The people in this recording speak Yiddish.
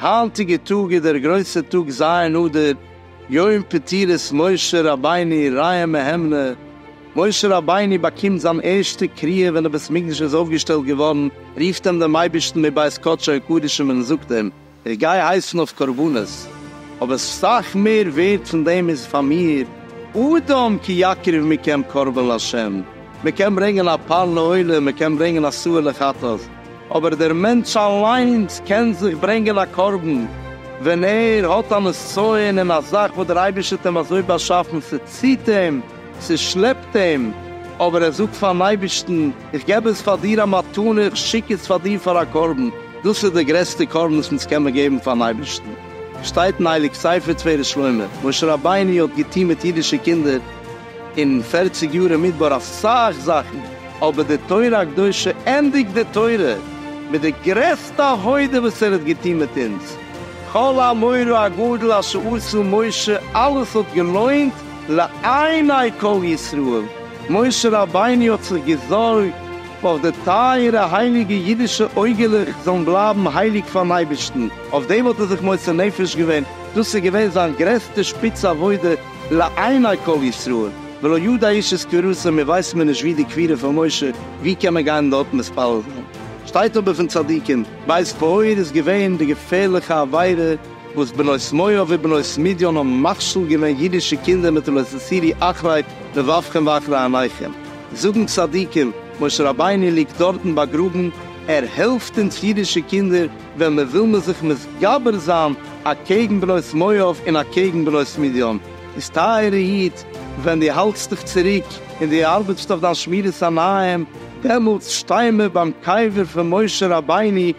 היינטיגע טאג איז דער גרויסע טאג ז' אדר, יום פטירת משה רבינו רעיא מהימנא, משה רבינו באקומט זיין ערשטע קריאה ווען די בית מקדש איז אויפגעשטעלט געווארן, רופט אים דעם אייבערשטן מבית קדשו הקדושים און זאגט אים, איך גיי הייסן אויף קרבנות, אבער סך מער ווערד פון דעם איז פאר מיר, אדם כי יקריב מכם קרבן לה', מען קען ברענגען א פאן לעולה, מען קען ברענגען א סוה לחטאת, אבער דער מענטש אליינס קען זיך ברענגען א קרבן ווען ער האט א נסיון אין א זאך וואס דער אייבערשטער האט אים אזוי באשאפן, ס'ציט אים, ס'שלעפט אים, אבער ער זאגט פארן אייבערשטן, איך געב עס פאר דיר א מתנה, איך שיק עס פאר דיר פאר א קרבן, דאס איז די גרעסטע קרבן וואס אונז קען מיר געבן פארן אייבערשטן. שטייט אין הייליג ספר תפארת שלמה, משה רבינו האט געטון מיט אידישע קינדער אין פֿערציק יאר אין מדבר אסאך זאכן, אבער די תורה הקדושה ענדיגט די תורה מיט די גרעסטע עבודה וואס ער האט געטון מיט אונז, כל המאור הגדול אשר עשה משה, אלעס האט געלוינט, לעיני כל ישראל, משה רבינו האט זיך געזארגט אויף די טייערע הייליגע אידישע אויגעלעך זאלן בלייבן הייליג פארן אייבערשטן, אויף דעם האט ער זיך מוסר נפש געווען, דאס איז געווען זיין גרעסטע שפיץ עבודה לעיני כל ישראל, ולא ידע איש את קבירתו, מיר ווייסן מיר נישט ווי די קבירה פון משה, ווי קען מען גיין דארט מתפלל זיין? שטייט אבער פון צדיקים, בית פאר איז געווען די געפערליכע עבירה, וואס בנות מואב ובנות מדיין האבן מכשיל געווען אידישע קינדער מיט לא תסירי אחרית לבבכם ואחרי עיניכם, זאגן צדיקים, משה רבינו ליגט דארטן באגראבן, ער העלפט אונז אידישע קינדער ווען מען וויל מען זיך מתגבר זיין אקעגן בנות מואב און אקעגן בנות מדיין, איז טייערע איד, ווען דו האלטסט דיך צוריק און דו ארבעטסט אויף דיין שמירת עיניים, דעמאלטס שטיי מיר ביים קבר פון משה רבינו,